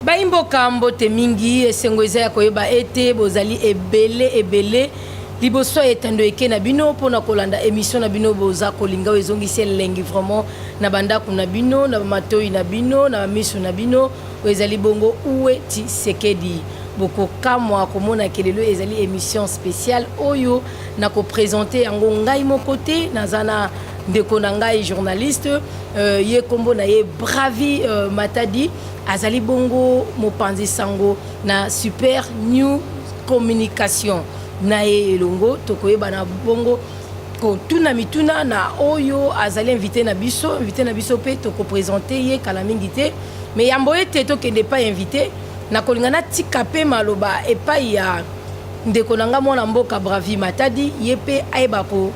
Baimboka mbote mingi, esengo eza ya koyeba ete bozali ebele ebele liboso ya etando eke na bino mpo na kolanda emission na bino boza kolinga oyo ezongisi elengi vraiment na bandako na bino na bamatoi na bino na bamiso na bino oyo ezali bongo uwe tisekedi bokokamwa komona ke lelo ezali emission spéciale oyo na kopresente yango ngai moko te naza na ndeko na ngai journaliste euh, ye nkombo na ye bravi euh, matadi Azali bongo mopanzi sango na Super New Communication. Na ye elongo tokoyebana bongo kotuna mituna na oyo azali invité na biso. Invité na biso mpe tokopresente ye kala mingi te, me yambo ete tokende epai invité, nakolinga natika mpe maloba epai ya ndeko na ngai mwana mboka Bravi Matadi, ye mpe ayeba ko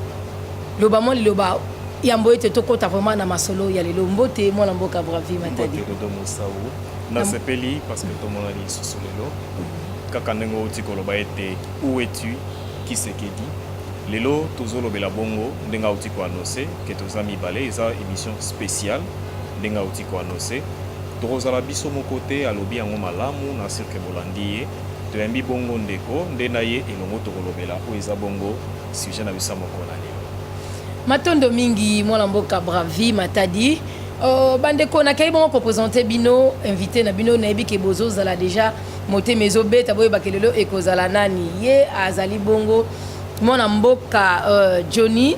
Loba mwa liloba yambo ete tokota vraiment na masolo ya lelo. Mbote mwana mboka Bravi Matadi. Mbote Dodo Mosau. Nasepeli parce que tomonani lisusu lelo. Kaka ndenge outi koloba ete où es-tu Kisekedi. Lelo tozolobela bongo ndenge auti ko annoncer que toza mibale eza emission spéciale ndenge auti ko annoncer. Tokozala biso moko te alobi yango malamu na sur que bolandi ye. Toyambi bongo ndeko nde na ye elongo tokolobela oyo eza bongo Sujet na biso ya mokolo na lelo. Matondo mingi mwana mboka Bravi Matadi. Uh, bandeko nakei bongo kopresente bino invité na bino nayebi ke bozozala deja motema ezobeta boyebake lelo ekozala nani ye azali bongo mwana mboka uh, Johnny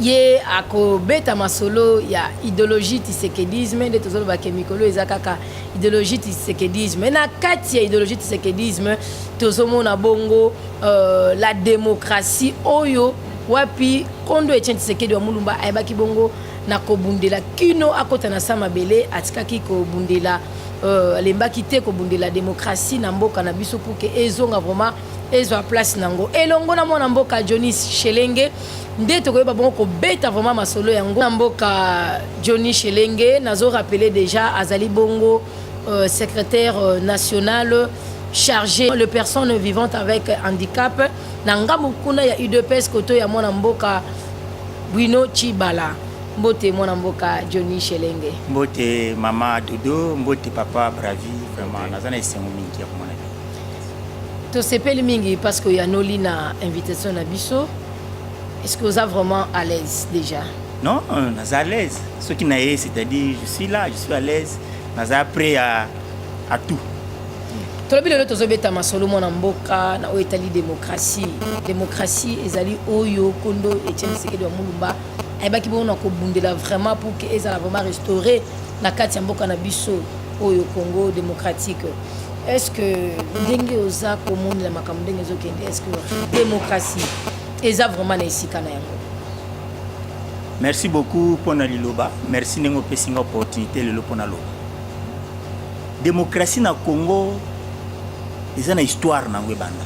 ye akobeta masolo ya idéologie tisekedisme nde tozoloba ke mikolo eza kaka idéologie tisekedisme na kati ya idéologie tisekedisme tozomona bongo Euh, la démocratie oyo wapi kondo Etienne Tshisekedi wa Mulumba ayebaki bongo na kobundela kino akota na sa mabele atikaki kobundela euh, alembaki te kobundela demokrasi na mboka na biso puke ezonga vraiment ezwa place nango elongo na mwana mboka jonis shelenge nde tokoyeba bongo kobeta vraiment masolo yango na mboka johnny shelenge nazo rappeler deja azali bongo euh, secrétaire euh, national chargé les personnes vivant avec handicap na ngambo kuna ya udps koto ya mwana mboka bwino chibala mbote mwana mboka johnny shelenge mbote mama dodo mbote papa bravi vraiment naza na esengo mingi ya komona tosepeli mingi parce que oyanoli na invitation na biso est ce que oza vraiment à l'aise déjà Non, naza à l'aise. Ce qui n'a c'est-à-dire je suis là, je suis à l'aise. Naza prêt à, à tout. tolobi lelo tozobeta masolo mwana mboka na oyo etali demokrasi demokrasi ezali oyo kondo etienne sekedi ya mulumba ayebaki bongo na kobundela vraiment pour que ezala vraiment restauré na kati ya mboka na biso oyo congo démocratique est ce que ndenge oza komonela makambo ndenge ezokende est ce que démocratie eza vraiment na esika na yango Merci beaucoup mpo na liloba. Merci ndenge opesi nga opportunité lelo mpo na loba. Démocratie na Congo eza na histoire nango ebanda.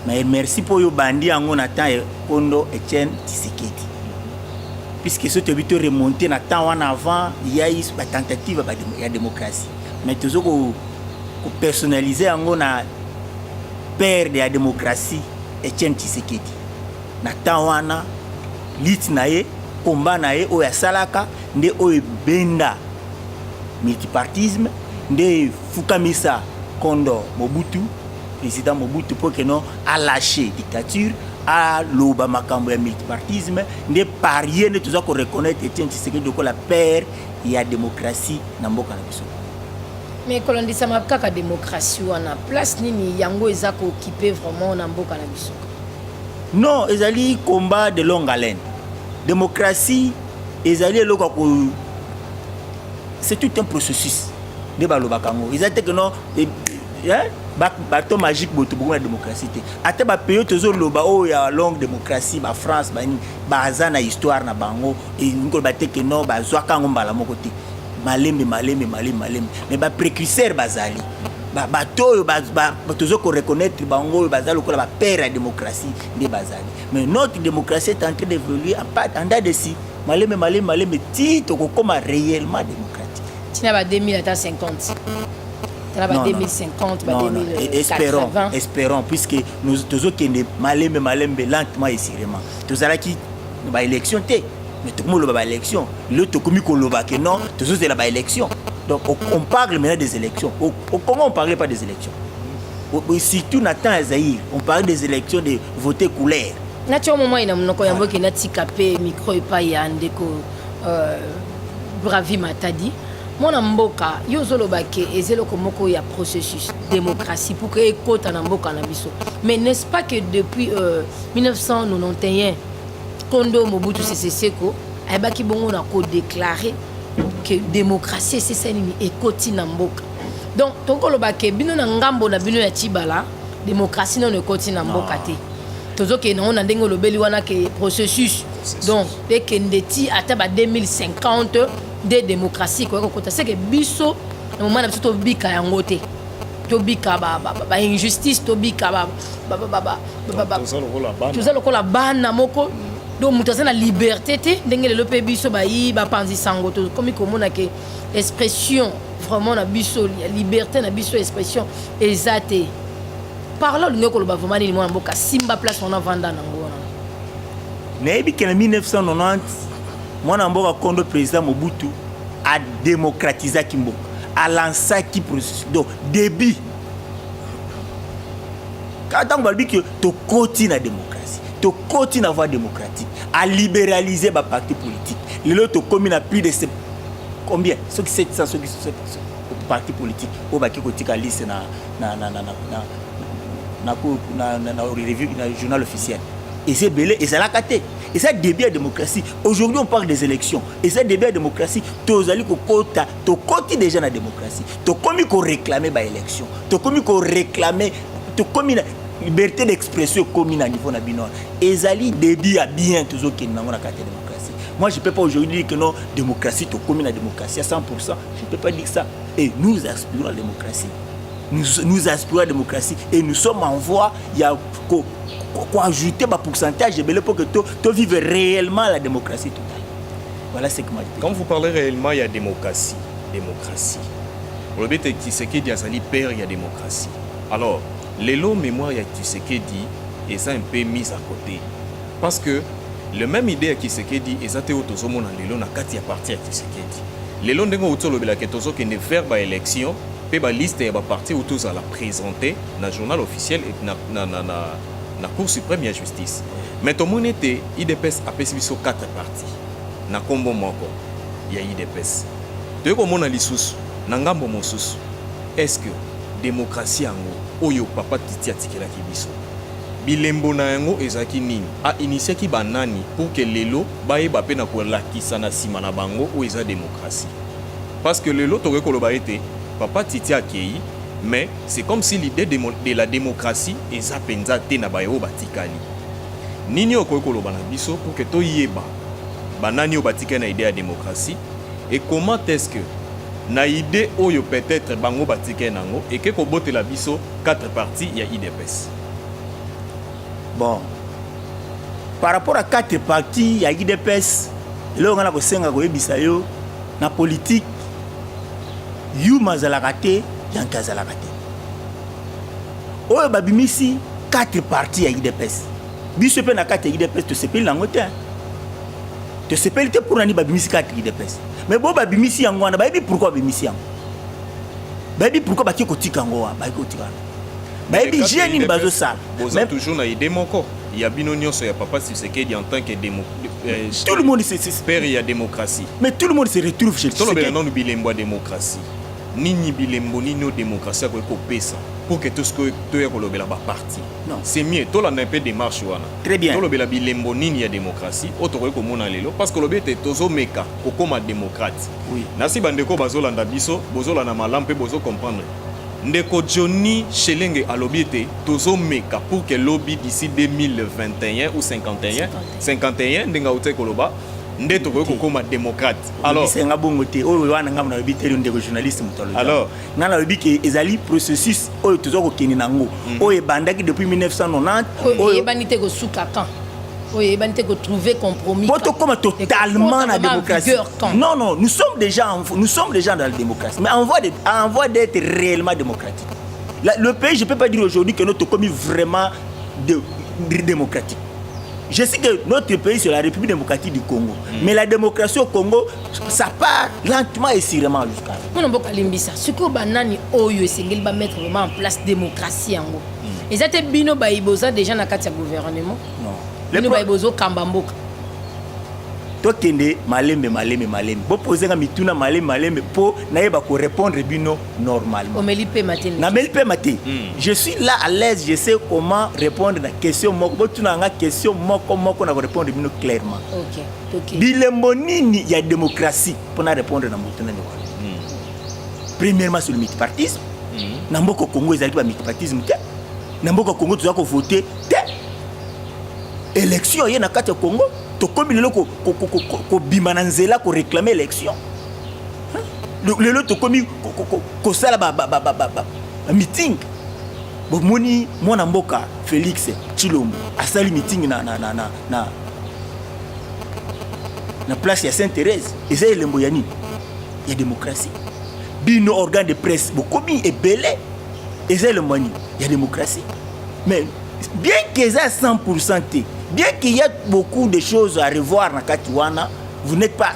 Mais merci mpo yo bandi yango na temps ya Kondo Etienne Tshisekedi. Puisque soki toyebi to remonter na temps wana avant ya ba tentative ya démocratie. Mais tozo ko ko personnaliser yango na père de la démocratie Etienne Tshisekedi. na temps wana lit na ye komba na ye oyo asalaka nde oyo ebenda multipartisme nde efukamisa kondo mobutu président mobutu mpo keno alache dictature aloba makambo ya multipartisme nde parie nde toza koreconnaitre etienne tshisekedi lokola père ya démocratie na mboka na biso mais kolondisamaka kaka démocratie wana place nini yango eza kookipe vraiment na mboka na biso Non, ezali combat de longue haleine. Democratie ezali eloko ko c'est tout un processus. Nde balobaka yango. Eza te que non eh, eh, bato magique boto bokoma na démocratie te ata bapays oyo tozoloba oyo ya longue démocratie bafrance banini baza na histoire na bango enkoloba te ke non bazwaka yango mbala moko te malembe malembe malembe malembe mais baprécurseur bazali bato oyo tozo ko reconnaître bango oyo baza lokola ba père ya démocratie nde bazali mais notre démocratie est en train d'évoluer en date de si maleme maleme maleme ti tokokoma réellement démocratique tina ba 2000 ata 50 tala ba 2050 ba 2080 espérons espérons puisque nous tozokende malembe malembe lentement et sûrement tozalaki ba élection te mais tokomi koloba ba élection lelo tokomi koloba ke non tozozela ba élection donc on parle maintenant des élections au, au congo on parlait pas des élections au, surtout na temps ya zaïre on parlait des élections de voter couleur natya momai na monoko yango eke natika mpe micro epai ya ndeko euh, bravi matadi mwana mboka yo ozoloba ke eza eloko moko ya processus démocratie pour que ekota na mboka na biso mais n'est ce pas que depuis euh, 1991 Kondo Mobutu Sese Seko ayebaki bongo na ko déclarer que démocratie esesa nini ekoti na mboka donc tokoloba ke bino na ngambo na bino ya cibala démocratie nono ekoti na mboka te tozokende yango na ndenge olobeli wana ke processus donc ekende ti ata ba 2050 nde démocratie ekoki kokota seke biso na moma na biso tobika yango te tobika ba, ba, ba, ba injustice tobika ba, toza lokola bana moko donc moto aza na liberté te ndenge lelo mpe biso bayi bapanzi sango tokomi komona ke expression vraiment na biso liberté na biso expression eza te parle olingi koloba vraiment nini mwana mboka simba place wana vanda nango wana nayebi ke na 1990 mwana mboka kondo président mobutu adémocratisaki mboka alansaki processus donc début kaka ntango balobi ke tokoti na démocratie tokoti na voie démocratique aliberalize baparti politique lelo tokomi na plus de combien soki 700 soki parti politique oyo baki kotika liste na, na, na, na, na, na, na, na, na, na, revue, na journal officiel eza ebele ezalaka te eza début ya démocratie aujourd'hui on parle des élections eza début ya démocratie tozali kokota tokoti deja na démocratie tokomi koréclame baélection tokomi koréclame tokomi na liberté d'expression ekomi na niveau na bino ezali début ya bien tozokende nango na kati ya démocratie moi je peux pas aujourd'hui dire que non démocratie tokomi na démocratie à 100% je peux pas dire ça et nous aspirons la démocratie nous, nous aspirons à la démocratie et nous sommes en voie ya ko, ko, ko ajouter ba pourcentage ebele pour que to, to vive réellement la démocratie totale Voilà ce que m'a dit. Quand vous parlez réellement ya démocratie, démocratie. Olobi te Tshisekedi azali père ya démocratie. Alors, lelo mémoire ya Tshisekedi eza un peu mise à côté parce que le même idée ya Tshisekedi eza te oyo tozomona lelo na kati ya parti ya Tshisekedi. Lelo ndenge outi olobela ke tozokende vers ba élection mpe ba liste ya ba parti outi ozala présente na journal officiel et na, na, na, na, na cour suprême ya justice mais tomoni ete idps apesi biso 4 parti kati na nkombo moko ya udps. Toye komona lisusu na ngambo mosusu est ce que democratie yango oyo papa Titi atikelaki biso bilembo na yango ezalaki nini? A initiaki ba nani pour que lelo bayeba mpe na kolakisa na sima na bango oyo eza democratie? Parce que lelo tokoki koloba ete papa Titi akeyi mais c'est comme si l'idee de la democratie eza penza te na baye oyo batikali. Nini okoki koloba na biso pour que toyeba banani oyo batikali na idee ya demokrasi et comment est-ce que na idee oyo peut-être bango batikali nango eke kobotela biso 4 parties ya idps bon par rapport à 4 parties ya idps eloko ngai nakosenga koyebisa yo na politike yuma azalaka te yanke azalaka te oyo babimisi 4 parti ya idps biso mpe na kati ya idps tosepeli na yango te tosepeli te mpo nani babimisi 4 idps mais bo babimisi yango wana bayebi pourkui babimisi yango bayebi pourkui baki kotika yango wana baki kotika yango bayebi je nini bazosala boza toujours na idée moko ya bino nyonso ya papa sisekedi en tant que démo euh, tout le monde père ya démocratie mais tout le monde se retrouve chez tolobela nanu bilembo ya démocratie Nini bilembo nini oyo democratie akoki kopesa pour que tout ce que toya kolobela ba parti non c'est mieux tolanda mpe démarche wana très bien tolobela bilembo nini ya démocratie oyo tokoki komona lelo parce que olobi ete tozomeka kokoma démocrate oui. nasi bandeko bazolanda biso bozolanda malamu mpe bozo comprendre ndeko johnny shelenge alobi ete tozomeka pour que lobi d'ici 2021 ou 51 51 ndenge autaki koloba nde tokoki kokoma démocrate Alors, nga bongo te oyo wana nga nayebi te ndeko journaliste moto alobi alors nga nayebi ke ezali processus oyo toza kokende nango mm -hmm. oyo ebandaki depuis 1990 oyo eyebani te kosuka quand oyo eyebani te kotrouver compromis po tokoma totalement na démocratie non non nous sommes déjà en, nous sommes déjà dans la démocratie mais en voie de, en voie d'être réellement démocratique la, le pays je peux pas dire aujourd'hui que nous tokomi vraiment de, de démocratique Je sais que notre pays, c'est la République démocratique du Congo. Mm. Mais la démocratie au Congo, ça part lentement et sûrement jusqu'à. Mon nom Kalimbisa, ce que banani oyo esengeli ba mettre vraiment en place démocratie en gros. Mm. Ils étaient bino baiboza déjà na katia gouvernement. Non. Bino baibozo kamba mboka. tokende malembe malembe malembe bopozenga mituna malembe malembe mpo nayeba korépondre bino normalement. Omeli pema te. Na meli pema te. Hmm. Je suis là à l'aise, je sais comment répondre na question moko. Bo tuna nga question moko moko na ko répondre bino clairement. OK. OK. Bilembo nini ya démocratie pour na répondre na moto na ndeko. Hmm. Premièrement sur le multipartisme. Hmm. Na mboko Congo ezali ba multipartisme te. Na mboko Congo tu ko voter te. Élection ye na kati ya Congo tokomi lelo kobima na nzela koreklame élection lelo tokomi kosala bamiting bomoni mwana mboka félix tshilombo asali mitingi na, na, na, na, na, na place ya saint thérèse eza elembo ya nini ya démocratie bino organe de presse bokomi ebele eza elembo ya nini ya démocratie mais bien que eza 100 te bien qu'il y a beaucoup de choses à revoir na kati wana vous n'êtes pas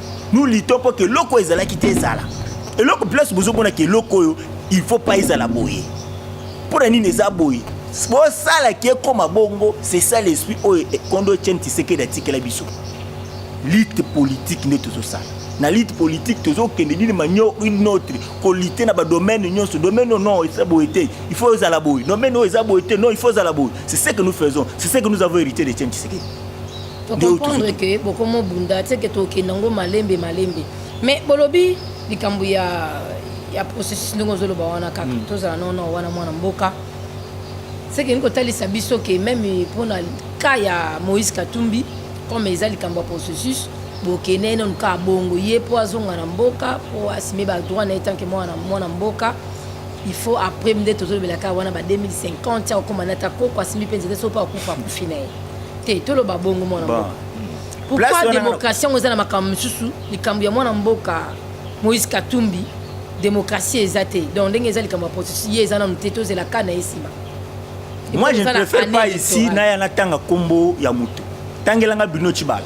nous luttons pour que eloko ezalaki te ezala eloko place bozomona ke eloko oyo il faut pas ezala boye mpo na nini eza boye bosalaki ekoma bongo c'est ça l'esprit oyo kondo etienne tisekedi atikela biso lite politique nde tozosala na lite politique tozokende dine manio une autre kolite na badomaine nyonso domaine non eza boye te il faut ezala boye domaine oyo eza boye te non il faut ezala boye c'est ce que nous faisons c'est ce que nous avons hérité de etienne tisekedi tocomprendre ke bokomo bunda teke tokende yango malembe malembe mais bolobi likambo ya ya processus ndenge ozoloba wana kaka hmm. tozala nono wana mwana mboka sekelingi kotalisa biso ke meme mpona ka ya moïse katumbi comme eza likambo ya processus bokende ye nanu kaka bongo ye mpo azonga na mboka mpo asime badroit na ye tanke mwana mboka il faut après nde tozolobela kaka wana ba 2050 akokoma na ta koko asimbi mpe nzete so mpo akufa akufi na ye te toloba bongo mwana mboka pourquoi démocratie yango eza na makambo mosusu likambo ya mwana mboka moïse katumbi démocratie eza te donc ndenge eza likambo ya processus ye eza nanu te tozela ka na ye nsima moi je ne préfère pas ici naya natanga nkombo ya moto tangelanga bino cibala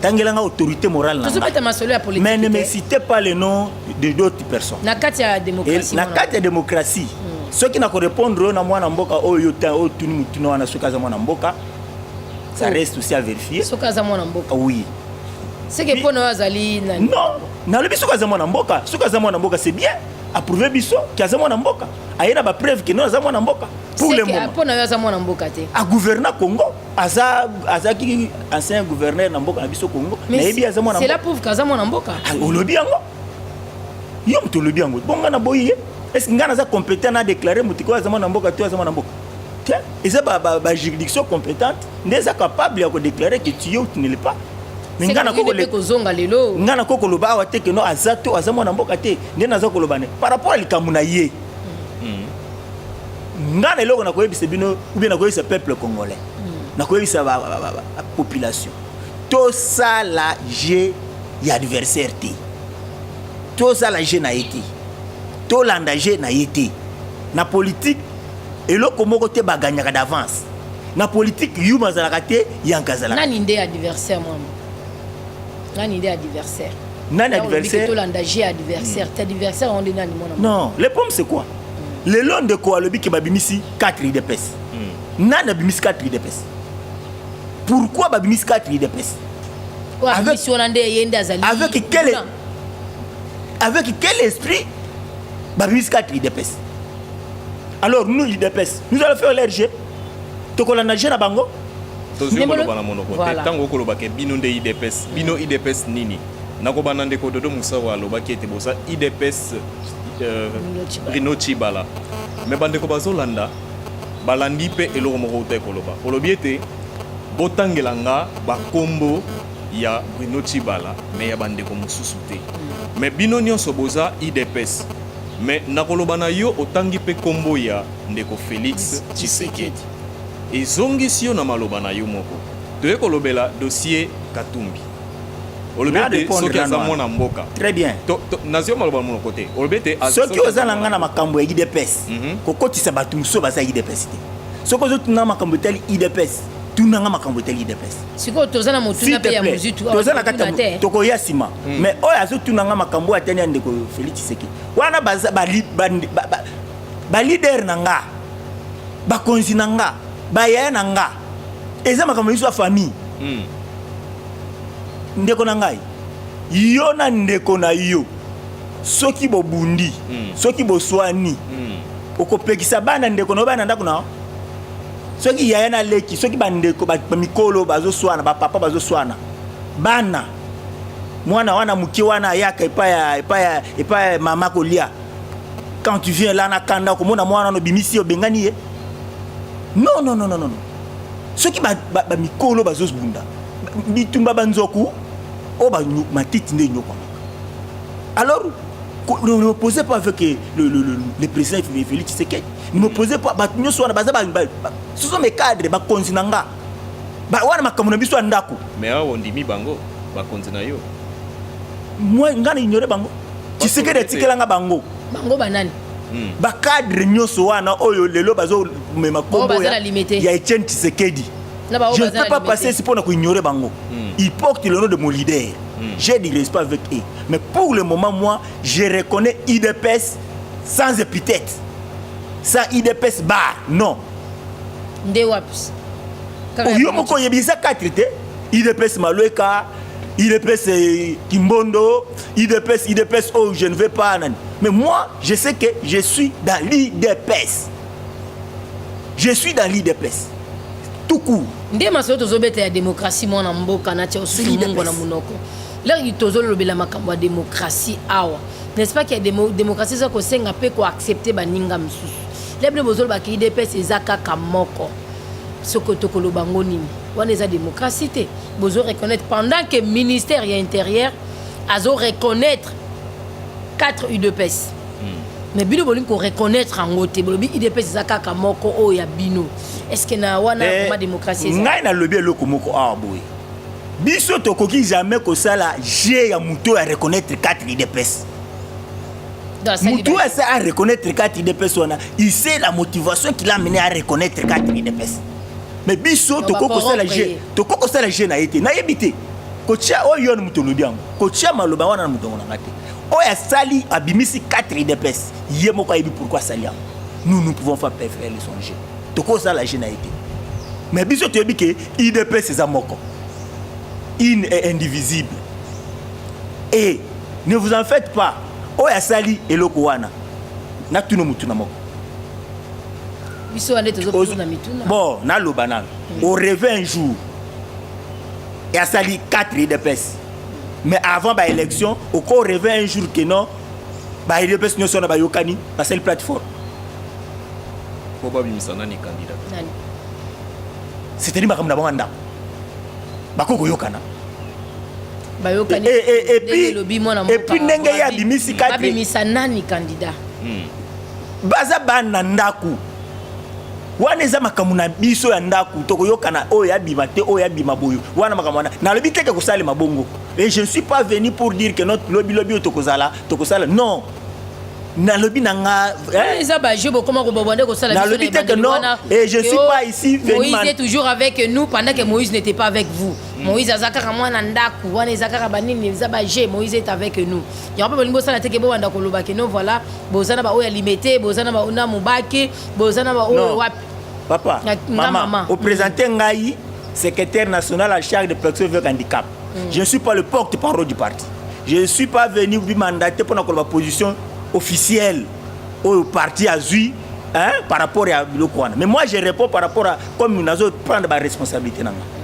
tangela nga autorité morale na tozobeta masolo ya politique mais ne me citez pas le nom de d'autres personnes na kati ya démocratie na kati ya démocratie hmm. soki na ko répondre oyo na mwana mboka oyo ta oyo tuni mutuna wana soki aza mwana mboka ça oh. reste aussi à vérifier soki aza mwana mboka ah oui c'est que pona azali nani non nalobi soki aza mwana mboka soki aza mwana mboka c'est bien approuve biso ke aza mwana mboka aye na bapreuve ke non aza mwana mboka pour le moment mpo na yo aza mwana mboka te agouverne congo aza azaki ancien gouverneur na mboka na biso Congo nayebi aza mwana c'est la pauvre kaza mwana mboka ah, olobi yango yo moto olobi yango bonga na boyi ye est-ce que nga naza compétent na déclarer moto ko aza mwana mboka to aza mwana mboka te eza ba ba, ba juridiction compétente nde eza capable ya ko déclarer que tu es ou tu ne l'es pas mais nga na koko le kozonga lelo nga na koko loba awa te que non aza to aza mwana mboka te nde naza koloba ne par rapport à likambo na ye nga na eloko nakoyebisa bino ou bien nakoyebisa peuple congolais hmm. nakoyebisa population tosala jeu ya adversaire te tosala jeu na ye te tolanda jeu na ye te na politique eloko moko te baganyaka d'avance na politique yuma azalaka te yanka azalaka nani nde adversaire mwana nani nde adversaire nani adversaire tolanda jeu adversaire hmm. ta adversaire onde nani mwana non le problème c'est quoi lelo ndeko alobi ke babimisi 4 idps hmm. nani abimisi 4 idps pourquoi babimisi 4 idps avec, avec, quel, avec quel esprit babimisi 4 idps alors nous idps nous allons faire l'RG tokolanda je na bango tozwi koloba na monoko te ntango okolobaka bino nde idps bino idps nini nakobanda ndeko dodo mosao alobaki ete boza idps Bruno Chibala me bandeko bazolanda balandi mpe eloko moko uta ekoloba olobi ete botangela nga bakombo ya Bruno Chibala me ya bandeko mosusu te me bino nyonso boza idps me nakoloba na yo otangi mpe kombo ya ndeko Felix Tshisekedi ezongisi yo na maloba na yo moko toye kolobela dossier Katumbi soki aza mwana mboka très bien nazio maloba monoko te olobi ete soki oza na ngai na makambo ya idps mhm. kokotisa bato mosusu baza idps te soki ozotuna makambo etali idps tunanga makambo etali idps sikoyo toza na motuna mpe ya mozitu toza na kati ya tokoya nsima hmm. mais oyo azotunanga makambo oyo atani ya ndeko félix tshisekedi wana balidere na nga bakonzi na nga bayaya na nga eza makambo biso ya famille mm. ndeko na ngai yo na ndeko na yo soki bobundi mm. soki boswani mm. okopekisa bana ndeko na yo bana ndako na soki yaya na leki soki bandeko bamikolo bazoswana bapapa bazoswana bana mwana wana moke wana ayaka epai ya mama kolia quand tu viens là na kanda okomona mwana wana obimisi obengani ye non non non non soki bamikolo ba, ba bazobunda bitumba banzoku oyo ba, matiti nde enyokwamaka alors ne me posez pas avec eh, le, le, le, le président Félix Tshisekedi ne me posez pas bato nyonso wana baza ce sont mes cadres bakonzi na nga wana makambo na biso ya ndako mais awa ondimi bango bakonzi na yo moi nga na ignore bango Tshisekedi atikela nga bango bango banani hmm. bacadre nyonso wana oyo lelo bazomema kombo ya etienne tshisekedi je ne peux pas passer si mpo na koignore bango hmm. il porte le nom de mon leader hmm. j'ai du respect avec eux mais pour le moment moi je reconnais idps sans épithète sans idps bar non nde wapi oyo moko oyebi eza 4 te idps malweka idps eh, kimbondo Udps, Udps, oh, je ne vais pas. Mais moi, je sais que je suis dans l'Udps. Je suis dans l'Udps. Tout court. nde masolo tozobeta ya demokrasi mwana mboka na tia osuli mongo na monoko leki tozolobela makambo ya demokrasi awa n'est-ce pas ke demokrasi eza kosenga mpe koaccepte baninga mosusu lebile bozolobaka idps eza kaka moko soko tokoloba ngo nini wana eza demokrasi te bozo reconnaître pendant que ministère ya intérieur azo reconnaître 4 udps hmm. mais bino bolingi koreconnaitre yango te bolobi udps eza kaka moko oyo ya bino estce na wana eh, ma démocratie ngai nalobi eloko moko awa ah, boye biso tokoki jamais kosala je ya moto oyo areconnaitre 4 udps moto oyo asa areconnaitre 4 udps wana ise la motivation qu'il a mené à reconnaître 4 udps mais biso tokoki kosala je tokoki kosala je na ye te nayebi te kotia oyo yo moto olobi yango kotia maloba wana na motongo na ngai te oyo asali abimisi 4 idps ye moko ayebi pourkui asali yango nous nous pouvons faire préférer le son jeu tokozala je na ye te mais biso toyebi ke idps eza moko une est indivisible et ne vous en faites pas oyo asali eloko wana natuna motu na moko biso wana tozobona mituna bon naloba nano oreve un jour et à sali 4 idps mais avant ba élection au corps rêver un jour que non ba idps ne sont pas yokani ba sali plateforme pour ba bimisa nani candidat nani c'était ni makambo na bango ndako bakoki koyokana bayokani eh, eh, eh, epuis lobi mwana mboka epuis ndenge ye abimisi kati babimisa nani candidat hmm. baza bana ndako wana eza makambo na biso ya ndako tokoyokana oyo abima te oyo abima boyo wana makambo wana nalobi teke kosalema bongo et je ne suis pas venu pour dire que notre lobi lobi oyo tokozala tokosala non nalobi na nga eh? eza ba jeu bokoma ko bobande ko sala nalobi te que non et je suis pas ici Moïse est toujours avec nous pendant que Moïse n'était pas avec vous mm. Moïse azakaka mwana ndaku wana ezakaka banini eza ba jeu Moïse est avec nous yango mpe bolingi bosala te ke bowanda koloba ke no voilà boza na baoyo ya limete boza na baoyo na mobaki boza na baoyo wapi papa mama opresente mm. ngai secrétaire national à charge de protection avec handicap mm. je ne suis pas le porte parole du parti je ne suis pas venu bimandater mpona koloba position officielle oyo parti azwi hein, par rapport ya biloko wana mais moi je réponds par rapport à comme nazo prendre baresponsabilité na ngai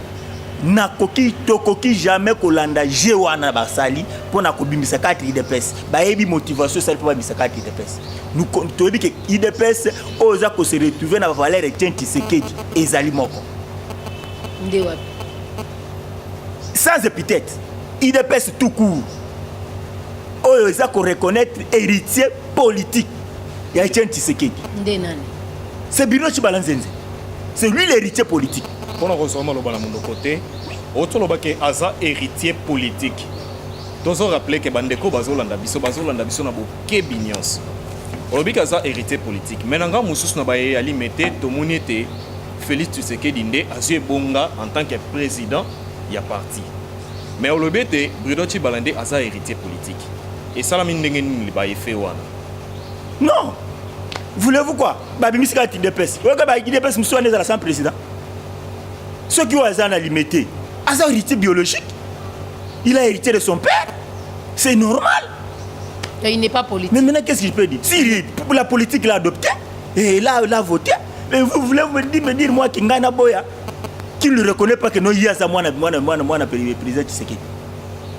nakoki tokoki jamais kolanda je wana basali mpo na kobimisa kati idps bayebi motivation esali mpo babimisa kati idps toyebi ke idps oyo eza kose retrouve na bavaleur etien tisekedi ezali moko nde wapi sans epithète idps tout court oyo eza koreconnaitre héritier politique ya etien tisekedi nde nani c'est birino cibalanzenze c'est lui l'héritier politique mpo na kozwa maloba na monoko te otoloba ke aza héritier politique tozo rappeler ke bandeko bazolanda biso bazolanda biso na bokebi nyonso olobi ke aza héritier politique me na ngai mosusu na baye alime te tomoni ete félix tshisekedi nde azwi ebonga en tant que président ya parti me olobi ete brudo cibala nde aza héritier politique esalami ndenge nini baefe wana non voulez-vous quoi babimisi kaka udps oyoka ba udps mosusu wana ezala sans président soki oyo aza na limete aza héritier biologique il a hérité de son père c'est normal Et il n'est pas politique. mais maintenant qu'est-ce qu'il peut dire si il- pour la politique l'a adopté et là l'a voté mais vous voulez me dire, me dire moi kinga na boya qui ne reconnaît pas que non ye aza mwana mwana mwana mwana président tshisekedi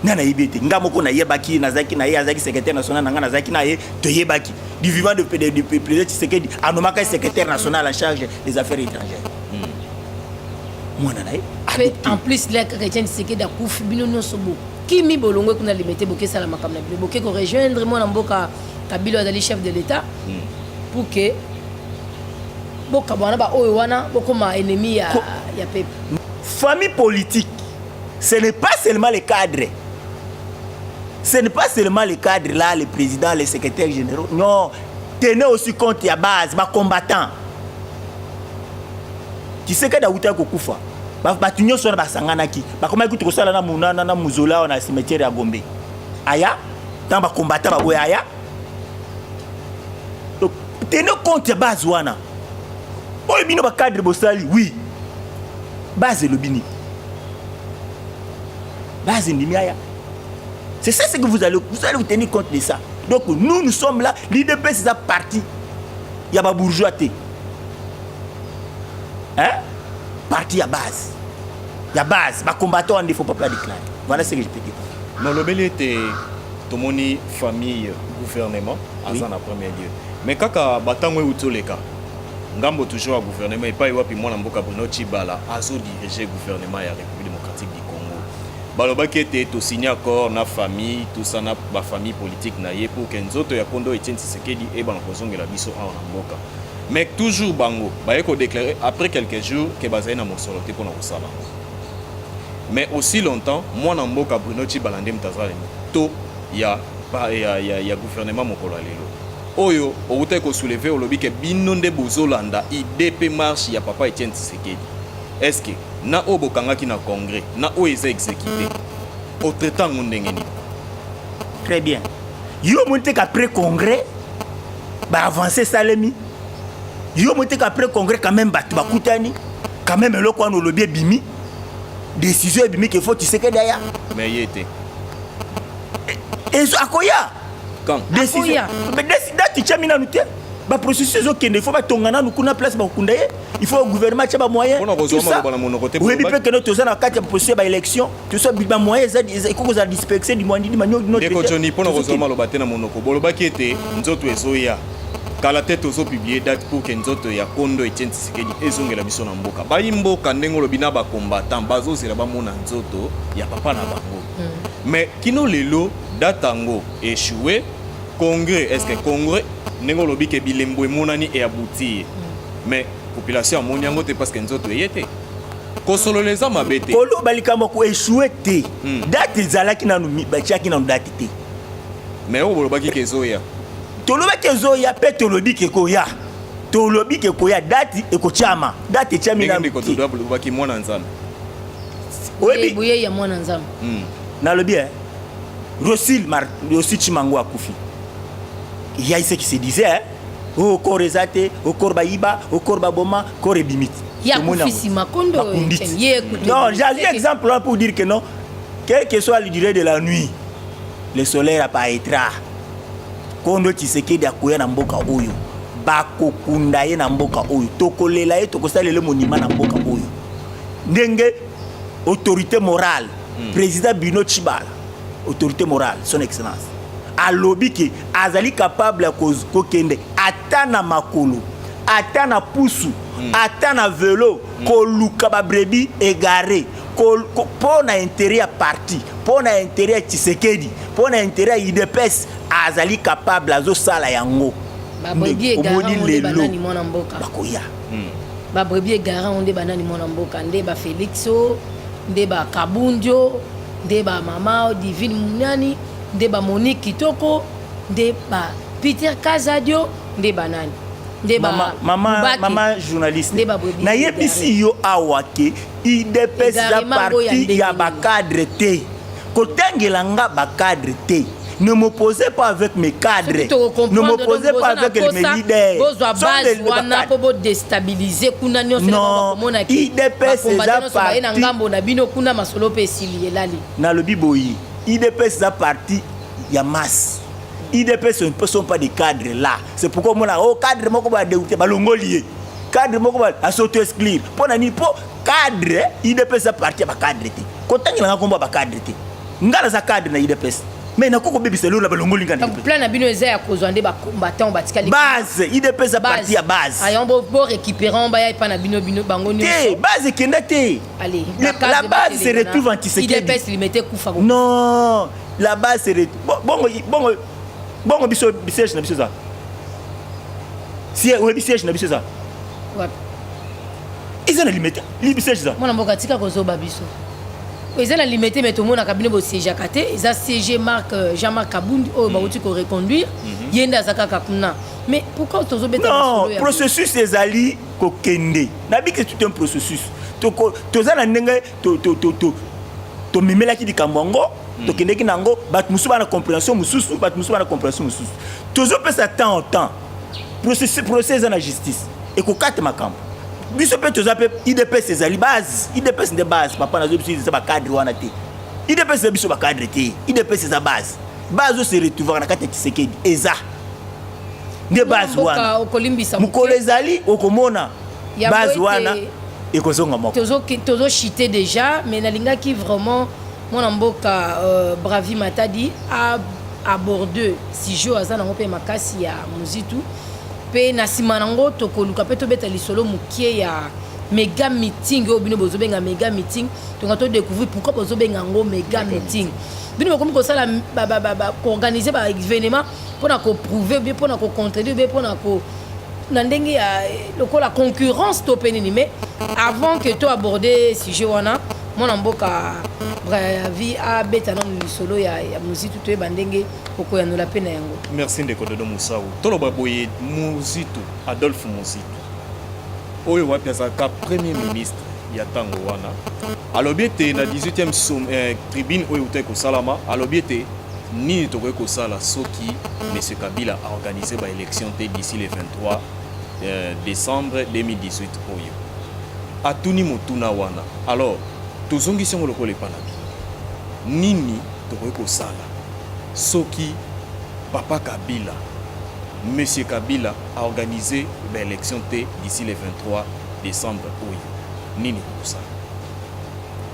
nga nayebi ete nga moko nayebaki nazalaki na ye azalaki secrétaire national na nga nazalaki na ye toyebaki du vivant de président tshisekedi anomaka ye secrétaire national en charge des affaires étrangères hmm. mwana na ye en plus la chrétien tshisekedi akufi bino nyonso bokimi bolongwe kuna limete bokesala makambo na bino boke korejoindre mwana mboka kabila azali chef de l'état hmm. pour que bokabwana baoyo wana bokoma ennemi ya, ya pepe famille politique Ce n'est pas seulement les cadres. Ce n'est pas seulement les cadres là, les présidents, les secrétaires généraux. Non, tenez aussi compte ya base, ba combattants. Kisekedi awutaki kokufa. Bato nyonso wana basanganaki, bakomaki kutu kosala na monana na mozola wana na cimetière ya Gombe. Aya, ntango bakombata baboya aya. Donc, tenez compte ya base wana. oyo bino bacadre bosali wi base elobi nini base endimi aya c'est ça ce que vous allez, vous allez vous tenir compte de ça donc nous nous sommes là l'idps eza parti ya babourgeois te hein? parti ya base ya base bacombattant ande faut papa déclare voilà ce que je peux dire nalobeli ete tomoni famille gouvernement aza na premier lieu Mais kaka ba tango euti oleka ngambo toujours ya gouvernement epai wapi mwana mboka Bruno Tshibala azo diriger gouvernement ya République démocratique du Congo. Balobaki ete to signer accord na famille tout ça na ba famille politique na ye pour que nzoto ya kondo Etienne Tshisekedi ebana kozongela biso awa na mboka. Mais toujours bango baye ko déclarer après quelques jours que bazali na mosolo te pona kosala. Mais aussi longtemps mwana mboka Bruno Tshibala nde mutazali to ya ya, ya, ya gouvernement mokolo ya lelo oyo owutaki kosouleve olobi ke bino nde bozolanda ide mpe marche ya papa etienne tshisekedi eske na oyo bokangaki na congrès na oyo eza exécuté otraite yango ndenge nini très bien yo omoni te qu'après congrès baavance esalemi yo omoni te qu'après congrès quand même bato bakutani quand même eloko wana olobi ebimi décision ebimi ke faut tshisekedi aya mais ye te ezo akoya quand décision mais décision date chami nanu te ba processus ezokende il faut batonga nanu kuna place bakokunda ye il faut gouvernement atya bamoyen oyebi mpe kende toza na kati ya processus ya baélection toso bamoyen ekoki kozala dispexe dimwandidi manyokinodeko joni mpo na kozwa maloba te na monoko bolobaki ete nzoto ezoya kala te tozopiblie date pour ke nzoto ya kondo etienne tshisekedi ezongela biso na mboka bayi mboka ndenge olobi na bacombattant bazozela bamona nzoto ya papa na bango mais kino lelo date yango echoue congrès est ce que congrès ndenge olobi ke bilembo emonani e aboutir mais population amoni yango te parce que nzoto eye te kosolola eza mabe te koloba likambo ya koechoue te Hmm. date ezalaki nanu mi- batiaki nanu date te mais oyo bolobaki ke ezoya tolobaki ezoya mpe tolobi ke ekoya tolobi ke ekoya date ekotyama date etyami ndenge nanu ndeko te. dodo alobaki mwana nzambe oyebi boye ya mwana nzambe hmm. nalobi eh Rosil Mar Rosil Chimango akufi ya ise qui se disait hein oh corps eza te oh corps bayiba oh corps baboma corps ebimiti ya kufisi makondo ye non j'ai exemple là pour dire que non quelle que soit la durée de la nuit le soleil apparaîtra kondo Tshisekedi akoya na mboka oyo bakokunda ye na mboka oyo tokolela ye tokosalela monima na mboka oyo ndenge autorité morale mm. président bino chibala autorité morale son excellence alobi ke azali capable ya kokende ata na makolo ata na pusu mm. ata na velo mm. koluka babrebi egare mpo na intérêt ya parti mpo na intérêt ya tshisekedi mpo na intérêt ya idps azali capable azosala yango omoni lelo bakoya ba brebis egare yango nde banani mwana mboka nde ba felix o nde ba kabundio nde ba mama divine munani nde ba monique kitoko nde ba peter kazadio nde banani nde ba mama, mama, Mubake. mama journaliste Nde ba brebis nayebisi yo awa ke idps eza parti ya bacadre te kotangela nga bacadre te ne m'opposez pas avec mes cadres ne m'opposez pas avec mes leaders wana po bodestabilise kuna nyonso komona idps eza parti na ngambo na bino kuna masolo mpe esili elali nalobi boyi idps eza parti ya masse idps ne sont pas des cadres là c'est pourquoi omona o oh, cadre moko badégoute balongoli ye cadre moko ba asoto exclure mpo na nini mpo cadre idps a parti ya bacadre te kotangela nga nkombo ya bacadre te nga naza cadre na idps mais nakoki kobebisa lelo na balongoli nga plan na bino eza ya kozwa nde bacombattant batikali base idps a parti ya base ayan bo récupérant baya epa na bino bino bango te base ekenda te la base se retrouve en tisekedidps limete kufa non la base se retrouve bongo bongo bongo biso biserge na biso eza Si oyebi siège na biso eza. Wapi? Eza na limete. Libi siège eza. Mwana mboka tika kozoba biso. Eza na limete mais tomonaka bino bo siège kate eza CG Marc euh, Jean-Marc Kabund oyo mm. bauti ko reconduire mhm. yenda azaka kakuna. Mais pourquoi tozo beta Non, processus ezali kokende. Nabi que c'est un processus. Toza na ndenge to to to to tomemelaki likambo yango hmm. tokendeki na yango bato mosusu bana comprehension mosusu bato mosusu bana comprehension mosusu tozopesa temps au temps procès eza na justice ekokata makambo biso mpe toza mpe idps ezali base idps nde base papa nazo biso eza bacadre wana te idps eza biso bacadre te idps eza base base oyo se retrouvaka na kati ya kisekedi eza nde base wana mokolo ezali okomona base wana ekozonga moko tozo tozo chite déjà mais nalingaki vraiment mwana mboka euh, bravi matadi a aborde sujet oyo aza nango mpe makasi ya muzitu mpe na nsima nango tokoluka mpe tobeta lisolo mokie ya mega meeting oyo bino bozobenga mega meeting tonga todecouvrir pourquoi bozobenga yango mega meeting bino bokomi kosala koorganize baévénement mpo na ko prouver bien mpo na ko contredire bien mpo na ko na ndenge ya lokola concurrence to mpe nini mais avant que to aborde sujet wana mwana mboka bravi abeta nano lisolo ya, ya muzitu toyeba ndenge okoyanola mpe na yango merci ndeko dodo mosau toloba boye muzitu adolphe muzitu oyo wapi azalaka premier ministre ya ntango wana Alobi ete na 18e som, eh, tribune oyo eutaki kosalama alobi ete nini tokoki kosala soki monsieur Kabila organise ba élection te d'ici le 23 eh, décembre 2018 oyo atuni motuna wana alors tozongisi yango lokola epa na bino nini tokoki kosala soki papa Kabila monsieur Kabila aorganize ba élection te d'ici le 23 décembre oyo Nini bokosala?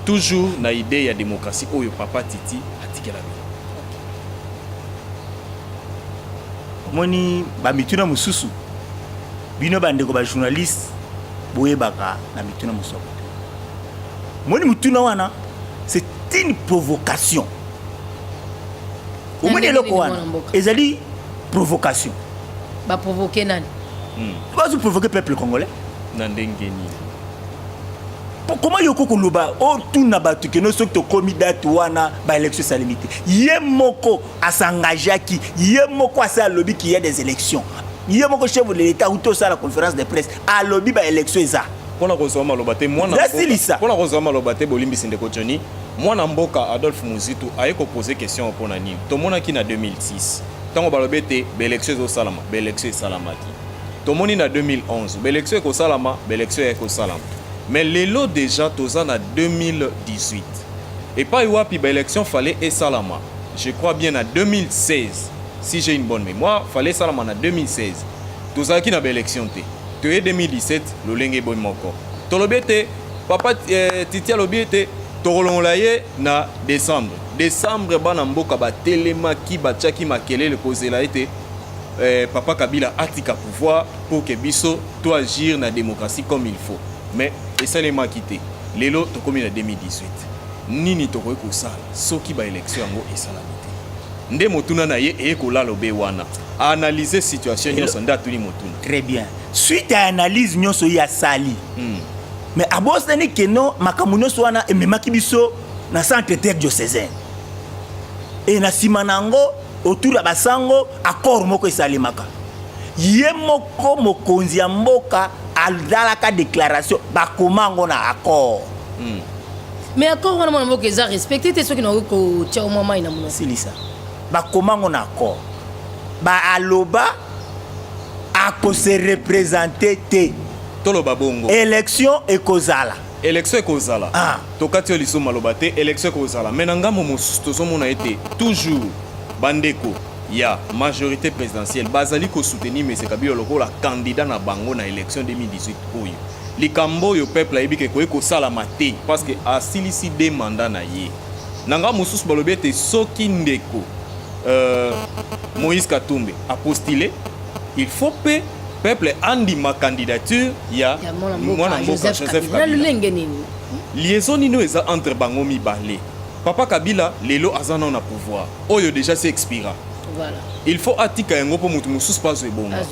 Toujours na idee ya democratie oyo papa Titi atikela bino. Omoni ba mituna mosusu bino bandeko ba journaliste boyebaka na mituna mosusu moni motuna wana c'est une provocation omoni eloko wana ezali provocation baprovoke nani hmm. bazoprovoke peuple congolais na ndenge nini koma yoko koloba otuna oh, bato keno soki tokomi date wana baélection esalemi te ye moko asangageaki ye moko asi alobi ki ya des élections ye moko chef de l'état uti osala conférence de presse alobi baélection eza mpona kozwa maloba te mwanasilisa mpona kozwa maloba te bolimbisi ndeko joni mwana mboka adolphe muzitu aye kopose question mpo na nini tomonaki na 2006 ntango balobi ete baélection ezosalama baélection esalamaki tomoni na 2011 baelection ekosalama baelection ya ekosalama mais lelo deja toza na 2018 epai wapi baelection fale esalama je crois bien na 2016 si j'ai une bonne mémoire fale esalama na 2016 tozalaki na baelection te toye 2017 lolenge boye moko tolobi ete papa eh, titi alobi ete tokolongola ye na décembre décembre bana mboka batelemaki batiaki makelele kozela ete eh, papa kabila atika pouvoir pour que biso to agir na démocratie comme il faut mais esalemaki te lelo tokomi na 2018 nini tokoki kosala soki baélection yango esalami te nde motuna na ye eye kolala obe wana analyse situation nyonso nde atuni motuna très bien suite ya analyse nyonso ye asali hmm. mais abosani keno makambo nyonso wana ememaki biso na centre terre diocesain e na nsima na yango autour ya basango accord moko esalemaka ye moko mokonzi ya mboka azalaka déclaration bakoma yango na accord mm. mais accord wana mwana mboka eza respecte te soki nakoki kotia omwa mai na mono silisa bakoma yango na accord baaloba akose represente te toloba bongo élection ekozala Election ekozala ah. tokati yo liso maloba te election ekozala mais na ngambo mosusu tozomona ete toujours bandeko ya majorité présidentielle bazali kosoutenir mese kabila lokola candidat na bango na election 2018 oyo likambo oyo peuple ayebi ke ekoki kosalama te parce que asilisi de mandat na ye na ngambo mosusu balobi ete soki ndeko euh, moïse katumbe apostile il faut pe peuple andima candidature ya mwana mboka joseph kabila lolenge nini liaison nini eza entre bango mibale papa kabila lelo aza nao na pouvoir oyo déjà se expira voilà. il faut atika yango mpo moto mosusu mpo azwa ebonga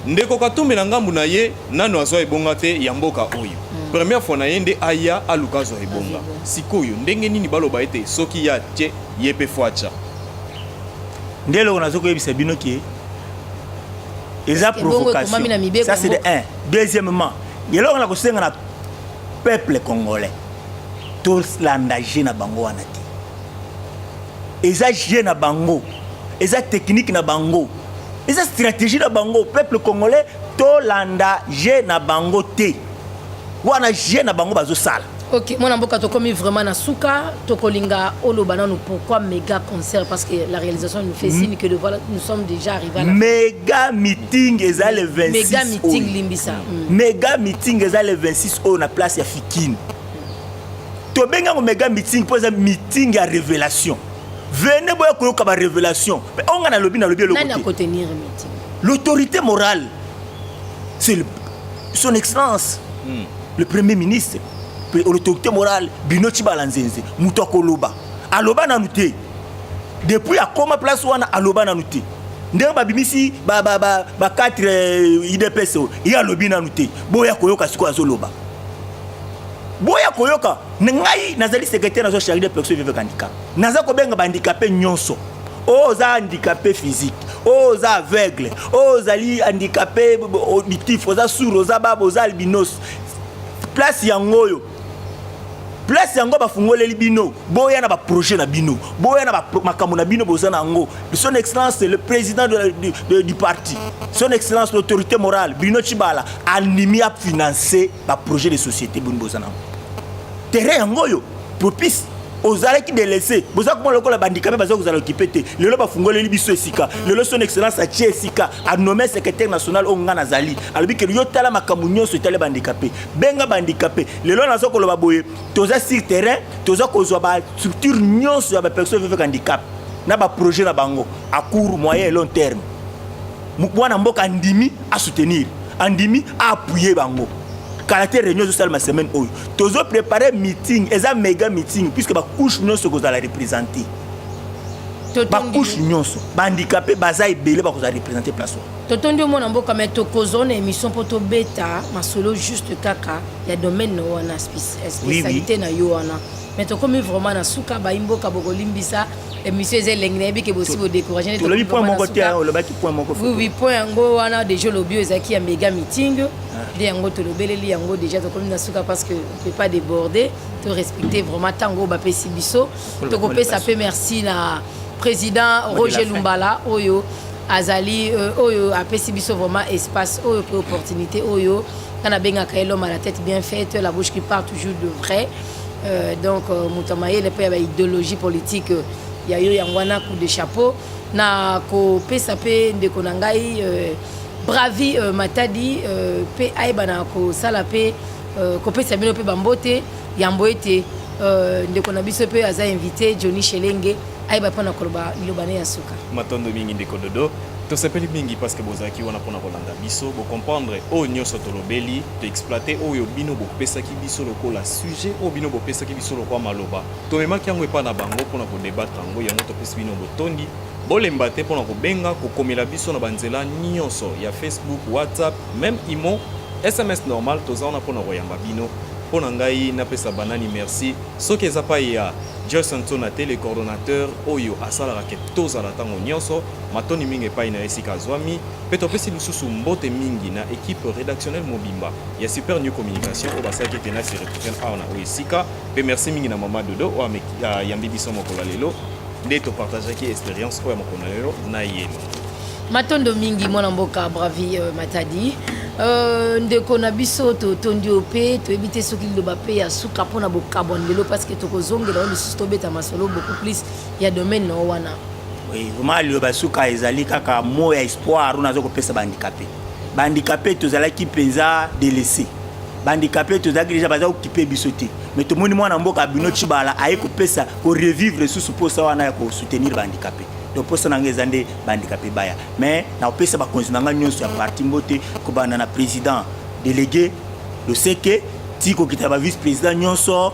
ndeko katumbi na ngambo na ye nano azwa ebonga te ya mboka oyo hmm. première fois na ye nde aya aluka azwa ebonga sikoyo ndenge nini baloba ete soki ya tye ye mpe fwacha nde eloko nazokoyebisa bino ke eza provocation ça c'est de un deuxièmement eloko na kosenga na peuple congolais tolanda je na bango wana te eza je na bango eza technique na bango eza stratégie na bango peuple congolais tolanda je na bango te wana je na bango bazosala Ok, mwana mboka tokomi vraiment na suka, tokolinga oloba nanu pourquoi méga concert parce que la réalisation nous fait hmm. signe que le voilà, nous sommes déjà arrivés à la méga meeting eza le 26 méga meeting oyo. limbisa mm. méga meeting eza le 26 oyo na place ya Fikine tobengi yango méga meeting mpo eza meeting ya révélation vene boya koyoka ba révélation mpe onga nalobi nalobi eloko te l'autorité morale c'est son excellence mm. le premier ministre l'autorité morale bino cibala nzenze moto akoloba aloba nanu te depuis akoma place wana aloba nanu te ndenge babimisi ba, ba, ba, ba 4 eh, idps oyo ye alobi nanu te boya koyoka sikoyo azoloba boya koyoka ngai nazali secrétaire nazwa charge de personne vivre handicap naza kobenga bahandikape nyonso oyo oh, oza handicapé physique oyo oh, oza aveugle oyo oh, ozali handicapé auditif oza sour oza baba oza albinos place yango oyo place yango bafungoleli bino boya na baprojet na bino boya na makambo na bino boza na yango son excellence le président de la, du, de, du parti son excellence l'autorité morale bruno cibala andimi afinance ba projet de société boni boza nango terrain yango oyo propice ozalaki delese boza komona lokola bandikape baza kozala okipe te lelo bafungoleli biso esika lelo son excellence atie esika anome secrétaire national oyo ngai nazali alobi kelo yo tala makambo nyonso etali bandikape benga bandikape lelo naza koloba boye toza sur terrain toza kozwa bastructure nyonso ya bapersone vivek handicap na baprojet na bango a court moyen et long terme mwana mboka andimi a soutenir andimi a appuyer bango kala te réunion ezosalema semaine oyo tozo prépare meeting eza mega meeting puisque bacouche nyonso ekozala représente bacouche nyonso bahandikape baza ebele bakozala représente place oyo totondi omona mboka mai tokozwa na émission mpo tobeta masolo juste kaka ya domaine na wana spécialité na yo wana mai tokomi vraiment na suka bayi mboka bokolimbisa émission eza elengi nayebi ke bosi bodecourage nde tolobi point moko te hein, olobaki point moko oui oui point yango wana déjà olobi oyo ezalaki ya mega meeting ah. nde yango tolobeleli yango déjà tokomi na suka parce que on peut pas déborder to respecter vraiment ntango oyo bapesi biso tokopesa mpe merci na président roger lumbala oyo azali euh, oyo apesi biso vraiment espace oyo mpe opportunité oyo nga nabengaka ye l'homme à la tête bien faite la bouche qui part toujours de vrai Euh, donc euh, moto ya mayele mpe ya baideologie politique euh, ya yo yango wana coup de chapeau na kopesa mpe ndeko na ngai bravi matadi mpe ayebana kosala mpe kopesa bino mpe bambote yambo ete ndeko na biso mpe aza invité johnny shelenge ayeba mpo na koloba liloba ne ya suka matondo mingi ndeko dodo tosepeli mingi parce que bozalaki wana mpona kolanda biso bocomprendre oyo nyonso tolobeli toexploite oyo bino bopesaki biso lokola sujet oyo bino bopesaki biso lokola maloba tomemaki yango epai na bango mpona kodebatre yango yango topesi bino botondi bolemba te mpona kobenga kokomela biso na banzela nyonso ya facebook whatsapp meme imo sms normal toza wana mpona koyamba bino mpo na ngai napesa banani merci soki eza pai ya joyce nsona te le coordonnateur oyo asalaka ke tozala ntango nyonso matoni mingi epai na esika azwami Mpe topesi lisusu mbote mingi na equipe redactionnelle mobimba ya Super New Communication oyo basalaki ete nasi retrouver awa na oyo esika mpe merci mingi na mama Dodo oyo ayambi biso mokolo ya lelo nde topartageaki experience oyo ya mokolo ya lelo na ye. Matondo mingi mwana mboka Bravi euh, Matadi. Euh, ndeko na biso totondi yo mpe toyebi te soki liloba mpe ya suka mpo na bokabwani lelo parce que tokozongela yo lisusu tobeta masolo beaucoup plus ya domaine na yo wana oui vraiment liloba suka ezali kaka mot ya espoir oyo naza kopesa bahandikape bahandikape tozalaki mpenza delese bahandikape tozalaki deja baza kokipe biso te mais tomoni mwana mboka bino cibala aye kopesa korevivre lisusu mposa wana ya kosoutenir bahandikape donc mposa na ngai eza nde bahandikape baya mais nakopesa bakonzi na ngai nyonso ya parti mbote kobanda na président délégué loseke ti kokita ba vice président nyonso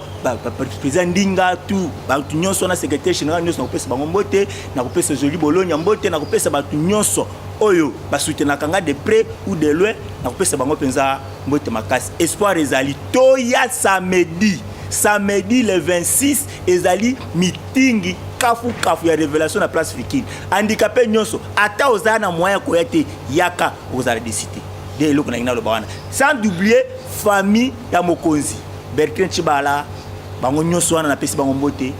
président ndinga tout bato nyonso wana secrétaire général nyonso nakopesa bango mbote nakopesa joli bolonia mbote nakopesa bato nyonso oyo basutenaka nga de près ou de loin nakopesa bango mpenza mbote makasi espoir ezali toya samedi samedi le 26 ezali mitingi kafukafu ya révélation na place fikini handicapé nyonso ata ozala na moyen ya koya te yaka okozala desite nde eloko nangi naloba wana sans doublie famille ya mokonzi Bertrand Chibala bango nyonso wana napesi bango mbote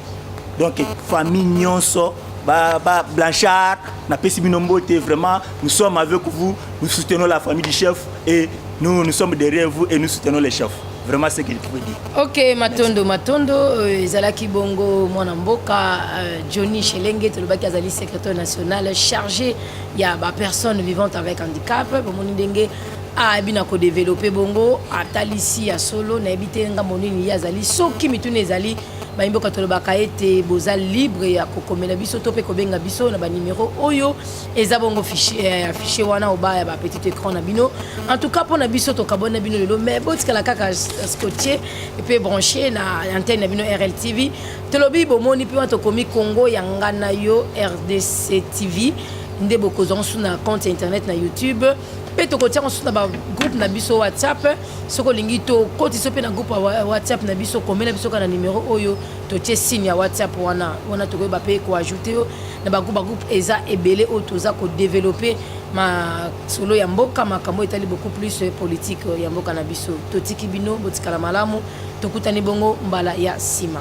donc famille nyonso ba, ba Blanchard napesi bino mbote vraiment nous sommes avec vous nous soutenons la famille du chef et nous nous sommes derrière vous et nous soutenons les chefs vraiment ce qu'il faut dire ok matondo matondo euh, ezalaki bongo mwana mboka euh, johnny shelenge tolobaki azali secrétaire national chargé ya bapersonne vivante avec handicap bomoni ndenge abi na kodevelope bongo atalisi ya solo nayebi te ngambo nini ye azali soki mituna ezali bayimboka tolobaka ete boza libre ya kokomela biso to mpe kobenga biso na banimero oyo eza bongo fichier eh, wana obaya ba petit écran na bino en tout cas mpo na biso tokabwani na bino lelo mais botikala kaka scotier mpe branche na antenne na bino rltv tolobi bomoni mpe wana tokomi congo ya ngai na yo rdc tv nde bokozwa mosusu na compte internet na youtube mpe tokotia mosusu na bagroupe na biso whatsapp soki olingi tokotisa mpe na groupe ya whatsapp na biso komela biso kaka na nimero oyo totie signe ya whatsapp wana wana tokoyeba mpe koajoute yo na bagroupe bagroupe eza ebele oyo toza kodeveloppe masolo ya mboka makambo etali beaucoup plus politique ya mboka na biso totiki bino botikala malamu tokutani bongo mbala ya nsima